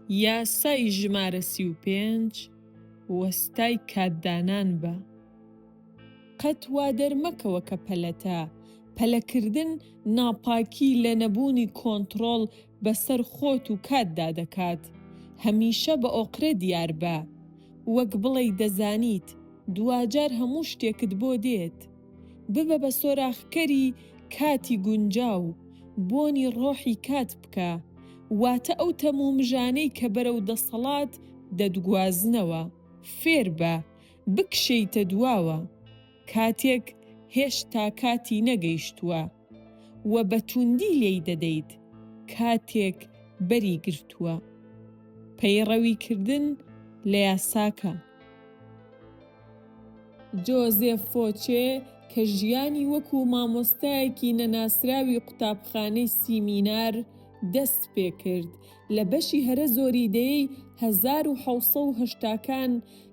یاسای ژمارە سی و پێنج وەستای کاتدانان بە. قەت وادەرمەکەوە کە پەلەتە پەلەکردن ناپاکی لە نەبوونی کۆنتڕۆڵ بەسەر خۆت و کاتدا دەکات، هەمیشە بە ئۆقرە دیاربە، وەک بڵێی دەزانیت دواجار هەموو شتێکت بۆ دێت. ببە بە سۆراخکەری کاتی گونجاو، بۆنی ڕۆحی کات بکە، واتە ئەو تەم و مژانەی کە بەرەو دەسەڵات دەتگوازنەوە، فێربە بکشێیتە دواوە، کاتێک هێشتا کاتی نەگەیشتووە و بە تووندی لێی دەدەیت، کاتێک بەری گرتووە. پەیڕەویکردن لە یاساکە. جۆزێف فۆچێ کە ژیانی وەکوو مامۆستایەکی نەناسراوی قوتابخانەی سیمینار دەست پێ کرد، لە بەشی هەرە زۆری دەیەی هەزار و حەوت سەد و هەشتا کان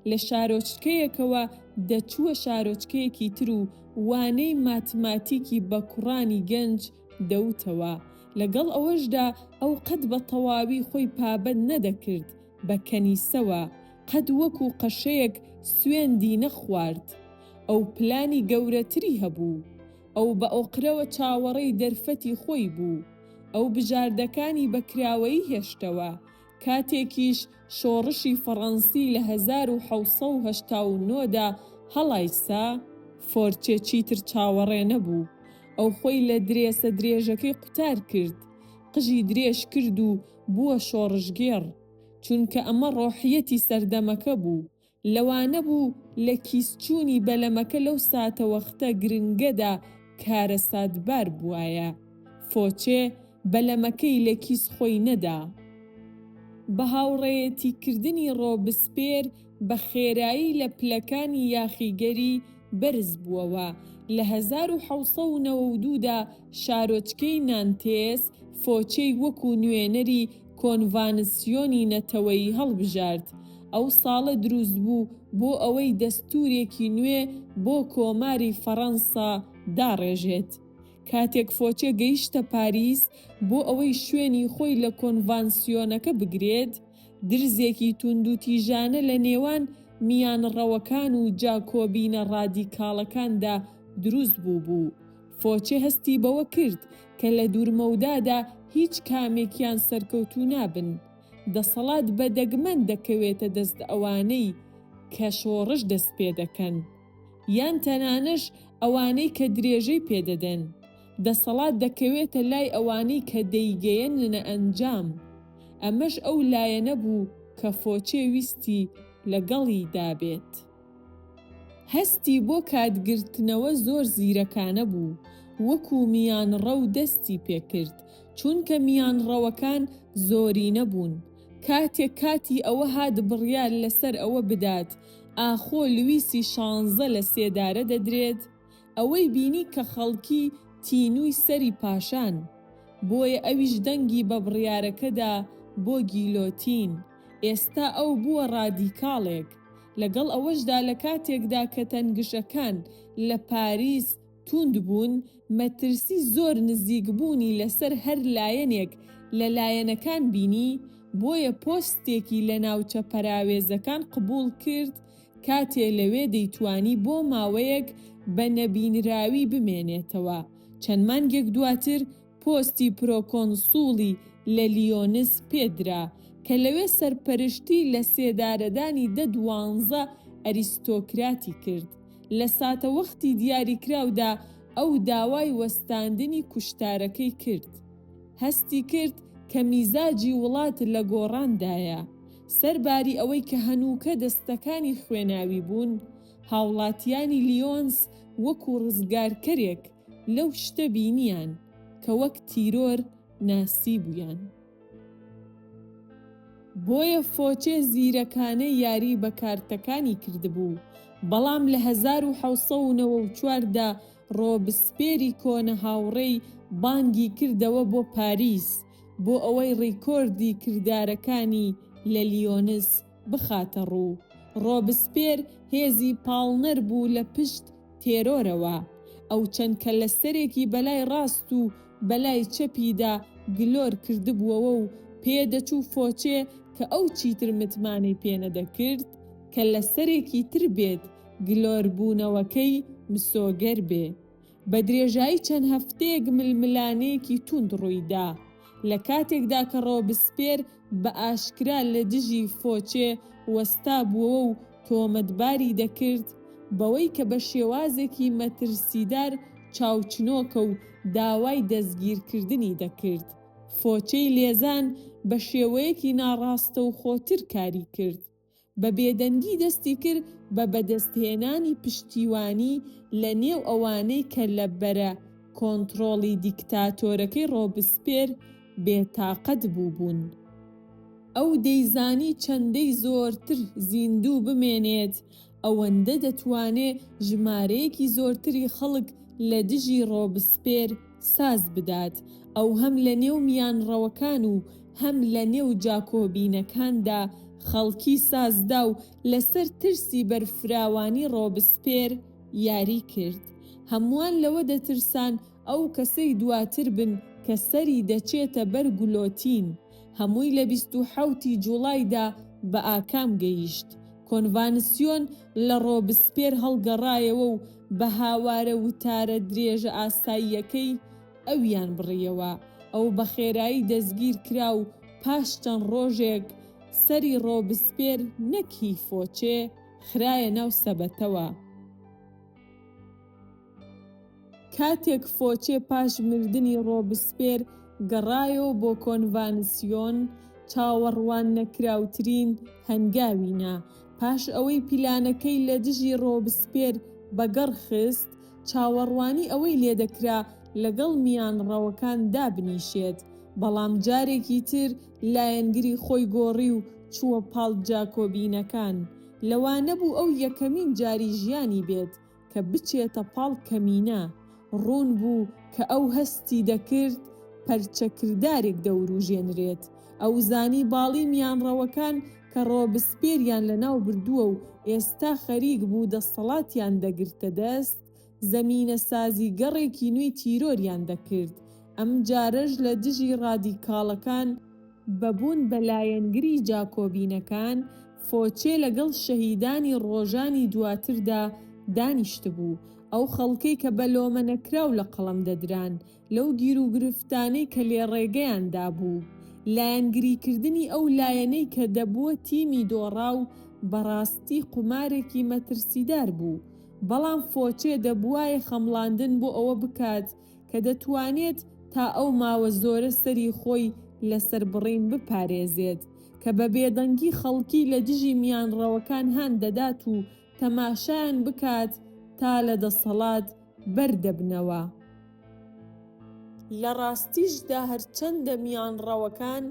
لە شارۆچکەیەکەوە دەچووە شارۆچکەیەکی تر و وانەی ماتماتیکی بە کوڕانی گەنج دەوتەوە، لەگەڵ ئەوەشدا ئەو قەت بە تەواوی خۆی پابەند نەدەکرد بە کەنیسەوە قەت وەکو قەشەیەک سوێندی نەخوارد. ئەو پلانی گەورەتری هەبوو. ئەو بە ئۆقرەوە چاوەڕێی دەرفەتی خۆی بوو. ئەو بژاردەکانی بە کراوەیی هێشتەوە، کاتێکیش شۆڕشی فەڕەنسی لە هەزار و حەوت سەد و هەشتا و نۆ دا هەڵایسا، فۆرچێ چیتر چاوەڕێ نەبوو، ئەو خۆی لە درێسە درێژەکەی قوتار کرد، قژی درێژ کرد و بووە شۆڕشگێڕ، چونکە ئەمە ڕۆحیەتی سەردەمەکە بوو، لەوانە بوو لە کیسچوونی بەلەمەکە لەو ساتەوەختە گرنگەدا کارەساتبار بوایە، فۆچێ بەلەمەکەی لە کیس خۆی نەدا. بە هاوڕێیەتیکردنی ڕۆبسپێر، بە خێرایی لە پلەکانی یاخیگەری بەرز بووەوە، لە هەزار و حەوت سەد و نەوە و دوو دا شارۆچکەی نانتێس فۆچێی وەکوو نوێنەری کۆنڤانسیۆنی نەتەوەیی هەڵبژارد. ئەو ساڵە دروست بوو بۆ ئەوەی دەستوورێکی نوێ بۆ کۆماری فەڕەنسا داڕێژێت. کاتێک فۆچێ گەیشتە پاریس بۆ ئەوەی شوێنی خۆی لە کۆنڤانسیۆنەکە بگرێت، درزێکی توندوتیژانە لە نێوان میانڕەوەکان و جاکۆبینە ڕادیکاڵەکاندا دروست بووبوو. فۆچێ هەستی بەوە کرد کە لە دوورمەودادا هیچ کامێکیان سەرکەوتوو نابن. دەسەڵات بە دەگمەن دەکەوێتە دەست ئەوانەی کە شۆڕش دەستپێدەکەن. یان تەنانەش ئەوانەی کە درێژەی پێدەدەن. دەسەڵات دەکەوێتە لای ئەوانەی کە دەیگەیەننە ئەنجام، ئەمەش ئەو لایەنە بوو کە فۆچێ ویستی لەگەڵی دابێت. هەستی بۆ کاتگرتنەوە زۆر زیرەکانە بوو، وەکو میانڕەو دەستی پێکرد، چونکە میانڕەوەکان زۆرینە بوون، کاتێک کاتی ئەوە هات بڕیار لەسەر ئەوە بدات ئاخۆ لویسی شانزە لە سێدارە دەدرێت، ئەوەی بینی کە خەڵکی تینووی سەری پاشان، بۆیە ئەویش دەنگی بە بڕیارەکەدا بۆ گیلۆتین، ئێستا ئەو بووە ڕادیکاڵێک، لەگەڵ ئەوەشدا لە کاتێکدا کە تەنگژەکان لە پاریس تووند بوون، مەترسی زۆر نزیکبوونی لەسەر هەر لایەنێک لە لایەنەکان بینی، بۆیە پۆستێکی لە ناوچە پەراوێزەکان قبوڵ کرد کاتێ لەوێ دەیتوانی بۆ ماوەیەک بە نەبینراوی بمێنێتەوە، چەند مانگێک دواتر پۆستی پرۆکۆنسوڵی لە لیۆنس پێ درا، کە لەوێ سەرپەرشتی لە سێدارەدانی دە دوانزە ئەریستۆکراتی کرد. لە ساتەوەختی دیاریکراودا ئەو داوای وەستاندنی کوشتارەکەی کرد. هەستی کرد کە میزاجی وڵات لە گۆڕاندایە. سەرباری ئەوەی کە هەنووکە دەستەکانی خوێناوی بوون، هاوڵاتیانی لیۆنس وەکو ڕزگارکەرێک لەو شتە بینیان کە وەک تیرۆر ناسیبوویان. بۆیە فۆچێ زیرەکانە یاری بە کارتەکانی کردبوو، بەڵام لە هەزار و حەوت سەد و نەوە و چوار دا ڕۆبسپێری کۆنە هاوڕێی بانگی کردەوە بۆ پاریس بۆ ئەوەی ڕیکۆردی کردارەکانی لە لیۆنس بخاتە ڕوو. ڕۆبسپێر هێزی پاڵنەر بوو لە پشت تێرۆرەوە. ئەو چەند کەللەسەرێکی بەلای ڕاست و بەلای چەپیدا گلۆر کردبووەوە و پێ دەچوو فۆچێ کە ئەو چیتر متمانەی پێ نەدەکرد کەللەسەرێکی تر بێت گلۆربوونەوەکەی مسۆگەر بێ. بە درێژایی چەند هەفتەیەک ململانێیەکی توند ڕوویدا، لە کاتێکدا کە ڕۆبسپێر بە ئاشکرا لە دژی فۆچێ وەستابووەوە و تۆمەتباری دەکرد بەوەی کە بە شێوازێکی مەترسیدار چاوچنۆکە و داوای دەستگیرکردنی دەکرد، فۆچێی لێزان بە شێوەیەکی ناڕاستەوخۆتر کاری کرد. بە بێدەنگی دەستی کرد بە بەدەستهێنانی پشتیوانی لە نێو ئەوانەی کە لە بەرە کۆنتڕۆڵی دیکتاتۆرەکەی ڕۆبسپێر بێ تاقەت بووبوون. ئەو دەیزانی چەندەی زۆرتر زیندوو بمێنێت، ئەوەندە دەتوانێ ژمارەیەکی زۆرتری خەڵک لە دژی ڕۆبسپێر ساز بدات، ئەو هەم لە نێو میانڕەوەکان و هەم لە نێو جاکۆبینەکاندا خەڵکی سازدا و لەسەر ترسی بەرفراوانی ڕۆبسپێر یاری کرد. هەمووان لەوە دەترسان ئەو کەسەی دواتر بن کە سەری دەچێتە بەر گولۆتین. هەمووی لە بیست و حەوت ی جوڵایدا بە ئاکام گەیشت. کۆنڤانسیۆن لە ڕۆبسپێر هەڵگەڕایەوە و بە هاوارە وتارە درێژە ئاساییەکەی ئەویان بڕیەوە. ئەو بە خێرایی دەستگیر کرا و پاش چەند ڕۆژێک سەری ڕۆبسپێر، نەک هی فۆچێ، خرایە ناو سەبەتەوە. کاتێک فۆچێ پاش مردنی ڕۆبسپێر گەڕایەوە بۆ کۆنڤانسیۆن، چاوەڕواننەکراوترین هەنگاوی نا. پاش ئەوەی پیلانەکەی لە دژی ڕۆبسپێر بەگەڕ خست، چاوەڕوانی ئەوەی لێدەکرا لەگەڵ میانڕەوەکان دابنیشێت، بەڵام جارێکی تر لایەنگری خۆی گۆڕی و چووە پاڵ جاکۆبینەکان. لەوانەبوو ئەو یەکەمین جاری ژیانی بێت، کە بچێتە پاڵ کەمینە، ڕوون بوو کە ئەو هەستی دەکرد پەرچە کردارێک دەوروژێنرێت، ئەو زانی باڵی میانڕەوەکان کە ڕۆبسپێریان لەناو بردووە و ئێستا خەریک بوو دەستەڵاتیان دەگرتە دەست، زەمینە سازی گەڕێکی نوێی تیرۆریان دەکرد، ئەم جارەش لە دژی ڕادیکاڵەکان، بە بوون بە لایەنگری جاکۆبینەکان، فۆچێ لەگەڵ شەهیدانی ڕۆژانی دواتردا دانیشتبوو، ئەو خەڵکەی کە بە لۆمە نەکراو لە قەڵەم دەدران، لەو گیروگرفتانەی کە لێڕێگەیان دابوو. لایەنگریکردنی ئەو لایەنەی کە دەبووە تیمی دۆڕاو بەڕاستی قومارێکی مەترسیدار بوو، بەڵام فۆچێ دەبووایە خەمڵاندن بۆ ئەوە بکات کە دەتوانێت تا ئەو ماوە زۆرە سەری خۆی لە سەربڕین بپارێزێت، کە بە بێدەنگی خەڵکی لە دژی میانڕەوەکان هان دەدات و تەماشایان بکات تا لە دەسەڵات بەر دەبنەوە. لە ڕاستیشدا هەرچەندە میانڕەوەکان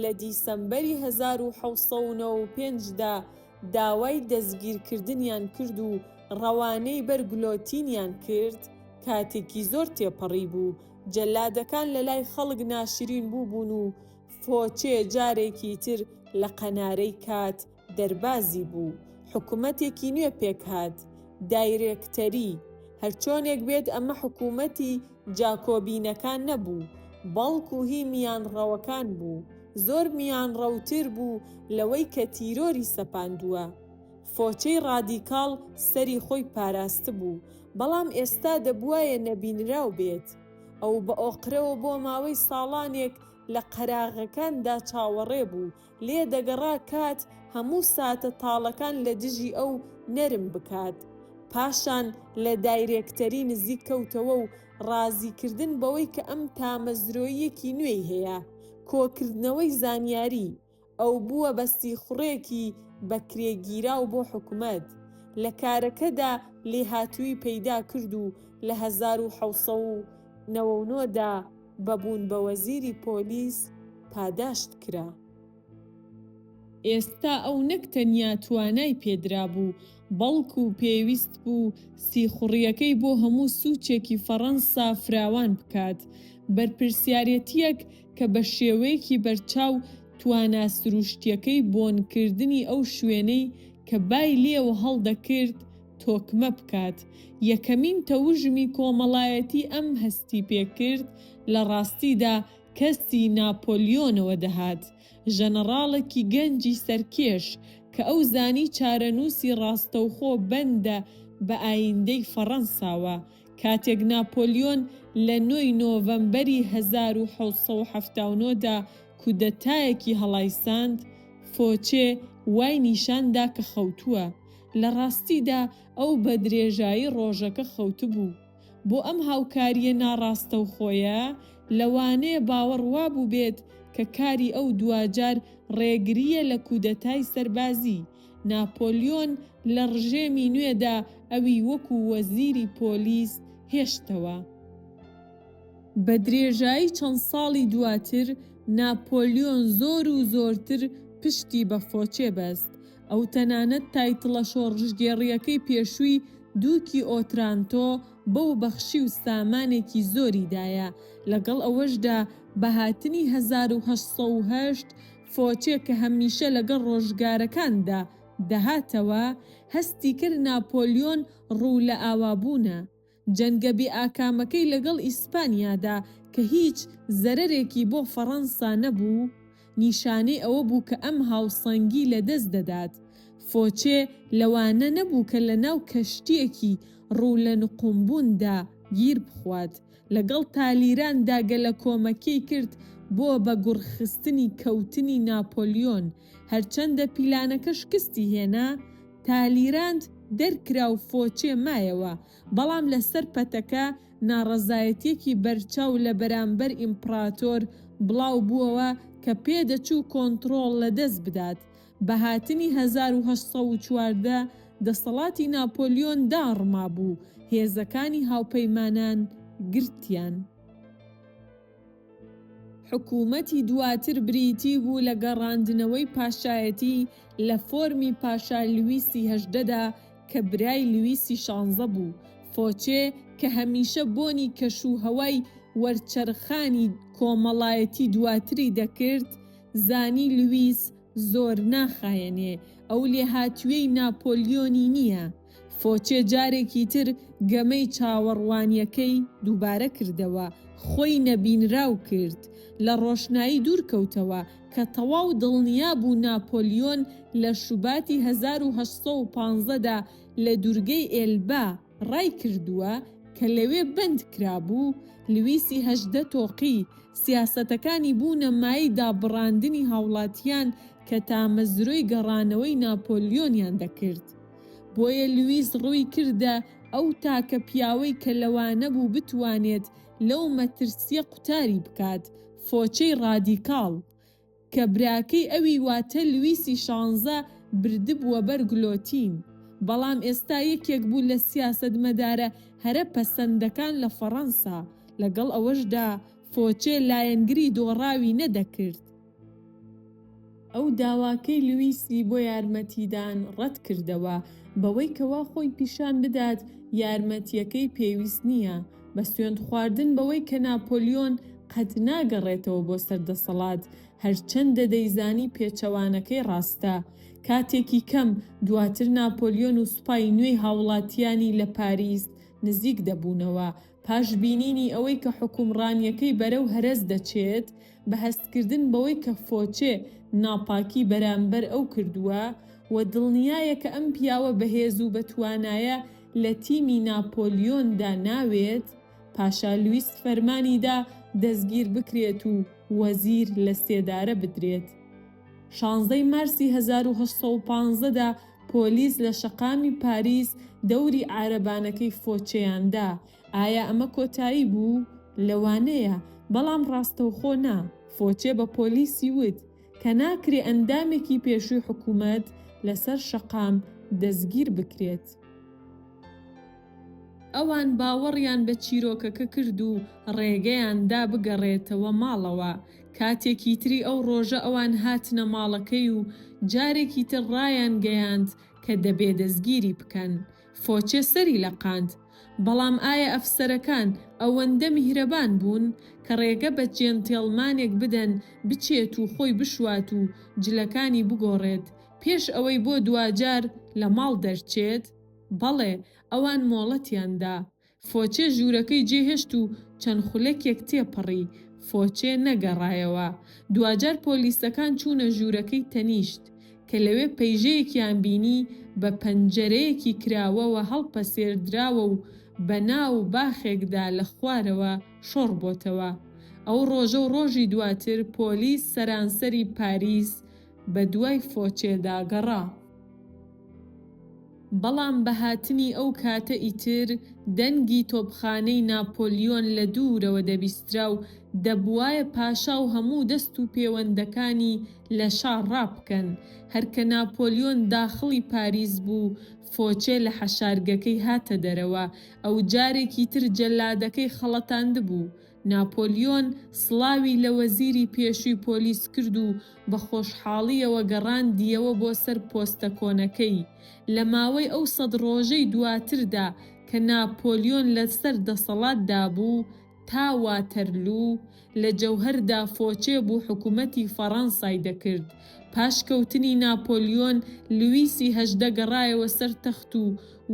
لە دیسەمبەری هەزار و حەوت سەد و نەوە و پێنج دا داوای دەستگیرکردنیان کرد و ڕەوانەی بەر گلۆتینیان کرد، کاتێکی زۆر تێپەڕی بوو، جەلادەکان لە لای خەڵک ناشرین بووبوون و فۆچێ جارێکی تر لە قەنارەی کات دەربازی بوو، حکومەتێکی نوێ پێکهات، دایرێکتەری، هەرچۆنێک بێت ئەمە حکومەتی. جاکۆبینەکان نەبوو، بەڵکو هی میانڕەوەکان بوو، زۆر میانڕەوتر بوو لەوەی کە تیرۆری سەپاندووە. فۆچەی ڕادیکاڵ سەری خۆی پاراستبوو، بەڵام ئێستا دەبوایە نەبینراو بێت. ئەو بە ئۆقرەوە بۆ ماوەی ساڵانێک لە قەراغەکاندا چاوەڕێ بوو لێ دەگەڕا کات هەموو ساتە تاڵەکان لە دژی ئەو نەرم بکات. پاشان لە دایرێکتەری نزیک کەوتەوە و ڕازیکردن بەوەی کە ئەم تامەزرۆییەکی نوێی هەیە، کۆکردنەوەی زانیاری، ئەو بووە بە سیخوڕێکی بەکرێگیراو بۆ حکومەت. لە کارەکەدا لێهاتوویی پەیدا کرد و لە هەزار و حەوت سەد و نەوە و نۆ دا، بە بوون بە وەزیری پۆلیس پاداشت کرا. ئێستا ئەو نەک تەنیا توانای پێدرابوو، بەڵکو پێویست بوو سیخوڕیەکەی بۆ هەموو سوچێکی فەڕەنسا فراوان بکات، بەرپرسیارێتیەک کە بە شێوەیەکی بەرچاو توانا سروشتیەکەی بۆنکردنی ئەو شوێنەی کە بای لێوە هەڵدەکرد، تۆکمە بکات، یەکەمین تەوژمی کۆمەڵایەتی ئەم هەستی پێکرد، لە ڕاستیدا کەسی ناپۆلیۆنەوە دەهات، ژەنەڕاڵێکی گەنجی سەرکێش، کە ئەو زانی چارەنووسی ڕاستەوخۆ بەندە بە ئاییندەی فەڕەنساوە، کاتێک ناپۆلیۆن لە نۆ ی نۆڤەمبەری هەزار و حەوت سەد و حەفتا و نۆ دا کودەتایەکی هەڵایساند، فۆچێ وای نیشان دا کە خەوتووە، لە ڕاستیدا ئەو بە درێژایی ڕۆژەکە خەوتبوو. بۆ ئەم هاوکارییە ناڕاستەوخۆیە، لەوانەیە باوەڕ وا بووبێت کە کاری ئەو دواجار ڕێگرییە لە کودەتای سەربازی. ناپۆلیۆن لە ڕژێمی نوێدا ئەوی وەکوو وەزیری پۆلیس هێشتەوە. بە درێژایی چەند ساڵی دواتر، ناپۆلیۆن زۆر و زۆرتر پشتی بە فۆچێ بەست. ئەو تەنانەت تایتڵە شۆڕشگێڕییەکەی پێشووی دووکی ئۆترانتۆ بەو بەخشی و سامانێکی زۆری دایە، لەگەڵ ئەوەشدا بە هاتنی هەزار و هەشت سەد و هەشت فۆچێ کە هەمیشە لەگەڵ ڕۆژگارەکاندا دەهاتەوە، هەستی کرد ناپۆلیۆن ڕوو لە ئاوابوونە. جەنگە بێ ئاکامەکەی لەگەڵ ئیسپانیادا کە هیچ زەرەرێکی بۆ فەڕەنسا نەبوو، نیشانەی ئەوە بوو کە ئەم هاوسەنگی لە دەست دەدات. فۆچێ لەوانە نەبوو کە لەناو کەشتییەکی ڕوو لە نقومبووندا گیر بخوات. لەگەڵ تالیراندا گەلەکۆمەکیی کرد بۆ بە گوڕخستنی کەوتنی ناپۆلیۆن. هەرچەندە پیلانەکە شکستی هێنا، تالیراند دەرکرا و فۆچێ مایەوە، بەڵام لەسەر پەتەکە ناڕەزایەتیەکی بەرچاو لە بەرامبەر ئیمپڕاتۆر بڵاو بووەوە کە پێدەچوو کۆنتڕۆڵ لە دەست بدات. بە هاتنی هەزار و هەشت سەد و چواردە دەسەڵاتی ناپۆلیۆن داڕمابوو، هێزەکانی هاوپەیمانان گرتیان. حکوومەتی دواتر بریتی بوو لە گەڕاندنەوەی پاشایەتی لە فۆرمی پاشا لویسی هەژدەدا کە برای لویسی شانزە بوو، فۆچێ کە هەمیشە بۆنی کەش و هەوای وەرچەرخانی کۆمەڵایەتی دواتری دەکرد، زانی لویس زۆر ناخایەنێ، ئەو لێهاتوویەی ناپۆلیۆنی نییە. فۆچێ جارێکی تر گەمەی چاوەڕوانییەکەی دووبارە کردەوە، خۆی نەبینراو کرد، لە ڕۆشنایی دوور کەوتەوە، کە تەواو دڵنیا بوو ناپۆلیۆن لە شوباتی هەزار و هەشت سەد و پازدە دا لە دوورگەی ئێلبە ڕای کردووە، کە لەوێ بەند کرابوو، لویسی هەژدە تۆقی، سیاسەتەکانی بوونە مایەی دابڕاندنی هاوڵاتیان کە تامەزرۆی گەڕانەوەی ناپۆلیۆنیان دەکرد. بۆیە لویس ڕووی کردە ئەو تاکە پیاوەی کە لەوانە بوو بتوانێت لەو مەترسییە قوتاری بکات، فۆچەی ڕادیکاڵ، کە براکەی ئەوی واتە لویسی شانزە بردبووە بەر گلۆتین، بەڵام ئێستا یەکێک بوو لە سیاسەتمەدارە هەرە پەسەندەکان لە فەڕەنسا، لەگەڵ ئەوەشدا فۆچێ لایەنگری دۆڕاوی نەدەکرد. ئەو داواکەی لویسی بۆ یارمەتیدان ڕەتکردەوە بەوەی کەوا خۆی پیشان بدات یارمەتییەکەی پێویست نییە، بە سوێند خواردن بەوەی کە ناپۆلیۆن قەت ناگەڕێتەوە بۆ سەر دەسەڵات، هەرچەندە دەیزانی پێچەوانەکەی ڕاستە. کاتێکی کەم دواتر ناپۆلیۆن و سوپای نوێی هاوڵاتییانی لە پاریس نزیک دەبوونەوە، پاش بینینی ئەوەی کە حوکمڕانیەکەی بەرەو هەرەس دەچێت، بە هەستکردن بەوەی کە فۆچێ ناپاکی بەرامبەر ئەو کردووە و دڵنیایە کە ئەم پیاوە بەهێز و بەتوانایە لە تیمی ناپۆلیۆندا ناوێت، پاشا لویس فەرمانیدا دەستگیربکرێت و وەزیر لە سێدارە بدرێت. شانزەی مارسی هەزار و هەشت سەد و پازدە دا پۆلیس لە شەقامی پاریس دەوری عارەبانەکەی فۆچێیان دا. ئایا ئەمە کۆتایی بوو؟ لەوانەیە، بەڵام ڕاستەوخۆ نا. فۆچێ بە پۆلیسی وت کە ناکرێ ئەندامێکی پێشووی حکوومەت لەسەر شەقام دەستگیر بکرێت. ئەوان باوەڕیان بە چیرۆکەکە کرد و ڕێگەیان دا بگەڕێتەوە ماڵەوە. کاتێکی تری ئەو ڕۆژە ئەوان هاتنە ماڵەکەی و جارێکی تر ڕایانگەیاند کە دەبێ دەستگیری بکەن. فۆچێ سەری لەقاند. بەڵام ئایا ئەفسەرەکان ئەوەندە میهرەبان بوون کە ڕێگە بە جێنتێڵمانێک بدەن بچێت و خۆی بشوات و جلەکانی بگۆڕێت پێش ئەوەی بۆ دواجار لە ماڵ دەرچێت؟ بەڵێ، ئەوان مۆڵەتیان دا. فۆچێ ژوورەکەی جێهێشت و چەند خولەکێک تێپەڕی، فۆچێ نەگەڕایەوە. دواجار پۆلیسەکان چوونە ژوورەکەی تەنیشت، کە لەوێ پەیژەیەکیان بینی بە پەنجەرەیەکی کراوەوە هەڵپەسێردراوە و بە ناو باخێکدا لە خوارەوە شۆڕ بۆتەوە. ئەو ڕۆژە و ڕۆژی دواتر پۆلیس سەرانسەری پاریس بە دوای فۆچێدا گەڕا. بەڵام بە هاتنی ئەو کاتە ئیتر دەنگی تۆپخانەی ناپۆلیۆن لە دوورەوە دەبیسترا و دەبوایە پاشا و هەموو دەست و پێوەندەکانی لە شا ڕابکەن. هەر کە ناپۆلیۆن داخڵی پاریس بوو، فۆچێ لە حەشارگەکەی هاتە دەرەوە. ئەو جارێکی تر جەلادەکەی خەڵەتاندبوو. ناپۆلیۆن سڵاوی لە وەزیری پێشووی پۆلیس کرد و بە خۆشحاڵییەوە گەڕاندییەوە بۆ سەر پۆستە کۆنەکەی. لە ماوەی ئەو سەد ڕۆژەی دواتردا کە ناپۆلیۆن لەسەر دەسەڵاتدا بوو، تا واتەرلوو، لە جەوهەردا فۆچێ بوو حکوومەتی فەڕەنسای دەکرد. پاش کەوتنی ناپۆلیۆن، لویسی هەژدە گەڕایەوە سەر تەخت و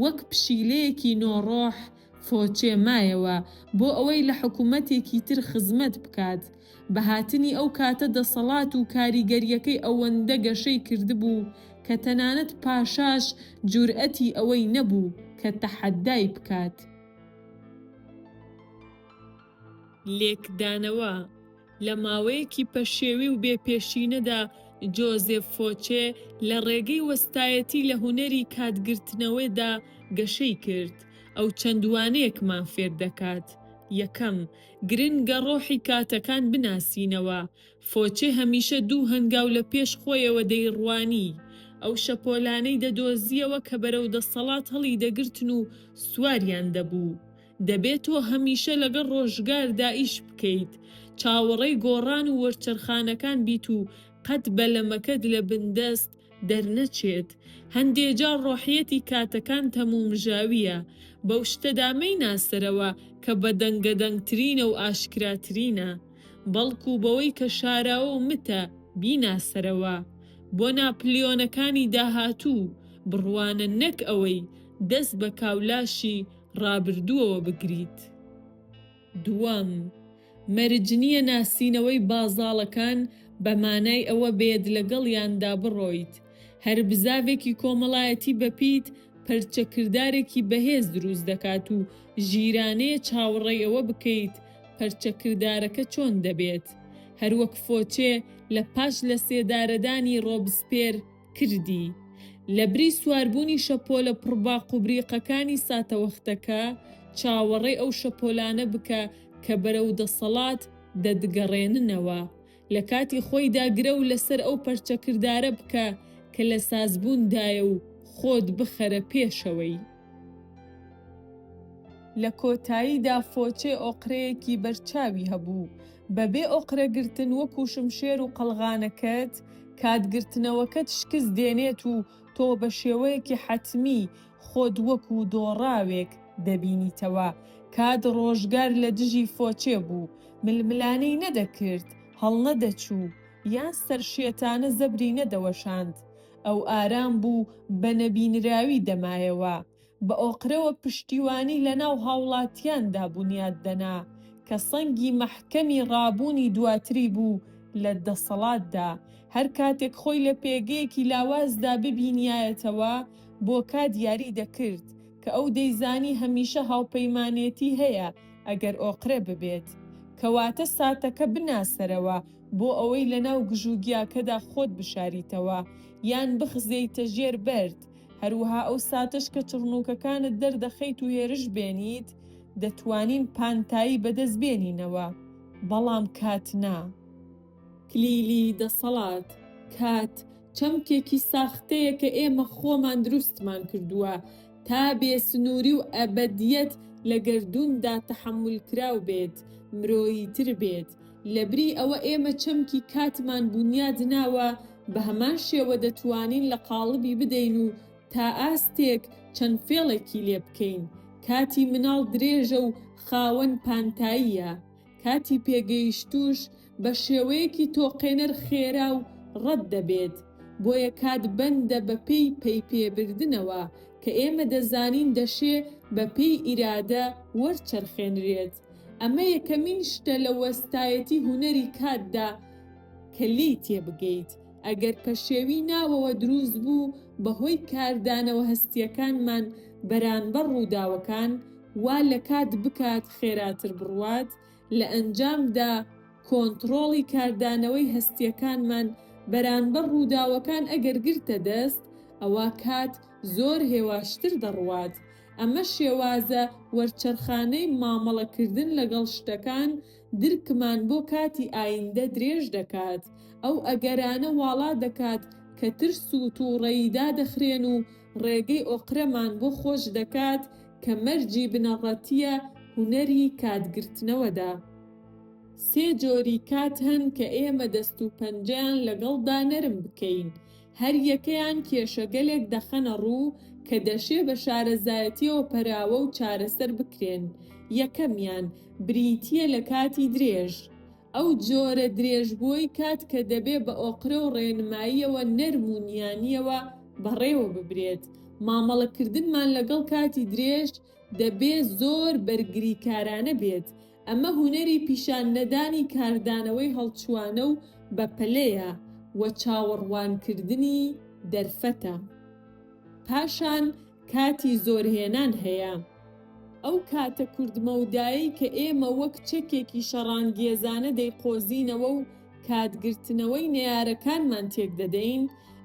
وەک پشیلەیەکی نۆ ڕۆح فۆچێ مایەوە بۆ ئەوەی لە حکوومەتێکی تر خزمەت بکات. بە هاتنی ئەو کاتە دەسەڵات و کاریگەرییەکەی ئەوەندە گەشەی کردبوو کە تەنانەت پاشاش جورئەتی ئەوەی نەبوو کە تەحەدای بکات. لێکدانەوە، لە ماوەیەکی پەشێوی و بێ پێشینەدا جۆزێف فۆچێ لە ڕێگەی وەستایەتی لە هونەری کاتگرتنەوەدا گەشەی کرد. ئەو چەند وانەیەکمان فێر دەکات، یەکەم، گرنگە ڕۆحی کاتەکان بناسینەوە. فۆچێ هەمیشە دوو هەنگاو لە پێش خۆیەوە دەیڕوانی. ئەو شەپۆلانەی دەدۆزییەوە کە بەرەو دەسەڵات هەڵیدەگرتن و سواریان دەبوو. دەبێ تۆ هەمیشە لەگەڵ ڕۆژگاردا ئیش بکەیت، چاوەڕێی گۆڕان و وەرچەرخانەکان بیت و قەت بەلەمەکەت لە بندەست دەرنەچێت. هەندێ جار ڕۆحیەتی کاتەکان تەمومژاوییە، بەو شتەدا مەیناسەرەوە کە بەدەنگەدەنگترینە و ئاشکراترینە، بەڵکوو بەوەی کە شاراوە و متە، بیناسەرەوە. بۆ ناپلیۆنەکانی داهاتوو بڕوانە نەک ئەوەی دەست بە کاولاشی ڕابردووەوە بگریت. دووەم، مەرج نییە ناسینەوەی بازاڵەکان بە مانای ئەوە بێت لەگەڵیاندا بڕۆیت. هەر بزاڤێکی کۆمەڵایەتی بەپیت پەرچەکردارێکی بەهێز دروست دەکات و ژیرانەیە چاوەڕێی ئەوە بکەیت پەرچەکردارەکە چۆن دەبێت. هەروەک فۆچێ لە پاش لەسێدارەدانی ڕۆبسپێر، کردی. لەبری سواربوونی شەپۆلە پڕ باق و بریقەکانی ساتەوەختەکە، چاوەڕێی ئەو شەپۆلانە بکە کە بەرەو دەسەڵات دەتگەڕێننەوە. لە کاتی خۆیدا گرەو لەسەر ئەو پەرچەکردارە بکە کە لە سازبووندایە و خۆت بخەرە پێشەوەی. لە کۆتاییدا فۆچێ ئۆقرەیەکی بەرچاوی هەبوو، بەبێ ئۆقرە گرتن وەکوو شمشێر و قەڵغانەکەت، کات گرتنەوەکەت شکست دێنێت و تۆ بە شێوەیەکی حەتمی خۆت وەکوو دۆڕاوێک دەبینیتەوە. کات ڕۆژگار لە دژی فۆچێ بوو، ململانێی نەدەکرد، هەڵنەدەچوو، یان سەرشێتانە زەبری نەدەوەشاند. ئەو ئارام بوو بە نەبینراوی دەمایەوە، بە ئۆقرەوە پشتیوانی لە ناو هاوڵاتیاندا بونیاد دەنا، کە سەنگی مەحکەمی ڕابوونی دواتری بوو لە دەسەڵاتدا، هەر کاتێک خۆی لە پێگەیەکی لاوازدا ببینیایەتەوە بۆ کات یاری دەکرد، کە ئەو دەیزانی هەمیشە هاوپەیمانێتی هەیە ئەگەر ئۆقرە ببێت، کەواتە ساتەکە بناسەرەوە، بۆ ئەوەی لەناو گژ و گیاکەدا خۆت بشاریتەوە یان بخزێیتە ژێر بەرد، هەروەها ئەو ساتەش کە چڕنووکەکانت دەردەخەیت و هێرش بێنیت، دەتوانین پانتایی بەدەست بێنینەوە، بەڵام کات نا. کلیلی دەسەڵات، کات، چەمکێکی ساختەیە کە ئێمە خۆمان دروستمان کردووە تا بێ سنووری و ئەبەدییەت لە گەردووندا تەحەمولکراو بێت، مرۆییتر بێت. لەبری ئەوە ئێمە چەمکی کاتمان بونیاد ناوە بەهەمان شێوە دەتوانین لە قاڵبی بدەین و تا ئاستێک چەند فێڵێکی لێ بکەین، کاتی مناڵ درێژە و خاوەن پانتاییە، کاتی پێگەیشتووش بە شێوەیەکی تۆقێنەر خێرا و ڕەت دەبێت، بۆیە کات بەندە بە پێی پەی پێ بردنەوە کە ئێمە دەزانین دەشێ بە پێی ئیرادە وەرچەرخێنرێت. ئەمە یەکەمین شتە لە وەستایەتی هونەری کاتدا کە لێی تێبگەیت، ئەگەر پەشێوی ناوەوە دروست بوو بەهۆی کاردانەوە هەستییەکانمان بەرانبەر ڕووداوەکان، وا لە کات بکات خێراتر بڕوات، لە ئەنجامدا کۆنتڕۆڵی کاردانەوەی هەستییەکانمان بەرانبەر ڕووداوەکان ئەگەر گرتە دەست، ئەوا کات زۆر هێواشتر دەڕوات. ئەمە شێوازە وەرچەرخانەی مامەڵەکردن لەگەڵ شتەکان، درکمان بۆ کاتی ئایندە درێژ دەکات، ئەو ئەگەرانە واڵا دەکات کە ترس و تووڕەیی دادەخرێن و ڕێگەی ئۆقرەمان بۆ خۆش دەکات کە مەرجی بنەڕەتییە هونەری کاتگرتنەوەدا. سێ جۆری کات هەن کە ئێمە دەست و پەنجەیان لەگەڵدا نەرم بکەین، هەر یەکەیان کێشەگەلێک دەخەنە ڕوو کە دەشێ بە شارەزایەتییەوە پەراوە و چارەسەر بکرێن، یەکەمیان بریتییە لە کاتی درێژ، ئەو جۆرە درێژبووەی کات کە دەبێ بە ئۆقرە و ڕێنماییەوە نەرم و نیانییەوە بەڕێوە ببرێت، مامەڵەکردنمان لەگەڵ کاتی درێژ، دەبێ زۆر بەرگریکارانە بێت، ئەمە هونەری پیشان نەدانی کاردانەوەی هەڵچوانە و بە پەلەیە و چاوەڕوان کردنی دەرفەتە. پاشان کاتی زۆر هێنان هەیە. ئەو کاتە کورت مەودایەی کە ئێمە وەک چەکێکی شەڕانگێزانە دەیقۆزینەوە و کات گرتنەوەی نەیارەکانمان تێک دەدەین،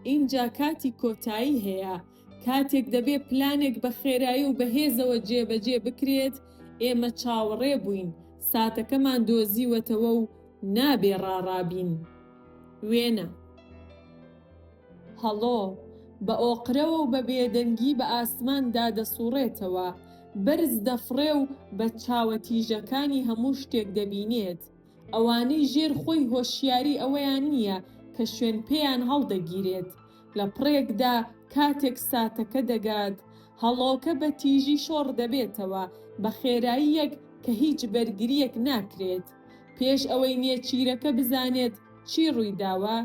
ئینجا کاتی کۆتایی هەیە، کاتێک دەبێ پلانێک بە خێرایی و بەهێزەوە جێبەجێ بکرێت، ئێمە چاوەڕێ بووین، ساتەکەمان دۆزیوەتەوە و نابێ ڕاڕابین. وێنە. هەڵۆ، بە ئۆقرەوە و بە بێدەنگی بە ئاسماندا دەسووڕێتەوە، بەرز دەفڕێ و بە چاوە تیژەکانی هەموو شتێک دەبینێت. ئەوانەی ژێر خۆی هۆشیاری ئەوەیان نییە کە شوێن پێیان هەڵدەگیرێت، لە پڕێکدا کاتێک ساتەکە دەگات، هەڵۆکە بە تیژی شۆڕ دەبێتەوە، بە خێراییەک کە هیچ بەرگرییەک ناکرێت. پێش ئەوەی نێچیرەکە بزانێت چی ڕوویداوە،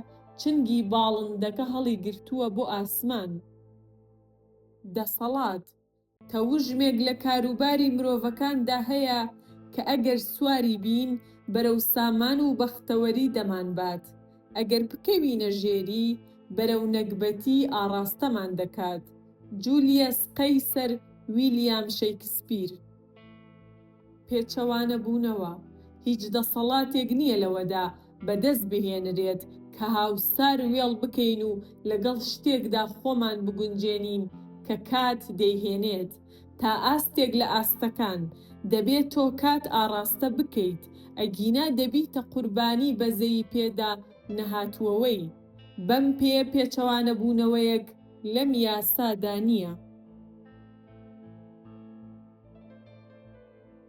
چنگی باڵندەکە هەڵیگرتووە بۆ ئاسمان. دەسەڵات. تەوژمێک لە کاروباری مرۆڤەکاندا هەیە کە ئەگەر سواری بین بەرەو سامان و بەختەوەری دەمانبات، ئەگەر بکەوینە ژێری بەرەو نەگبەتی ئاڕاستەمان دەکات، جولیەس قەیسەر ویلیام شەیکسپیر. پێچەوانەبوونەوە، هیچ دەسەڵاتێک نییە لەوەدا بەدەست بهێنرێت کە هاوسار وێڵ بکەین و لەگەڵ شتێکدا خۆمان بگونجێنین کە کات دەیهێنێت تا ئاستێک لە ئاستەکان، دەبێت تۆ کات ئاڕاستە بکەیت، ئەگینا دەبیتە قوربانی بەزەیی پێدا نەهاتووەوەی. بەم پێیە پێچەوانەبوونەوەیەک لەم یاسا دا نییە.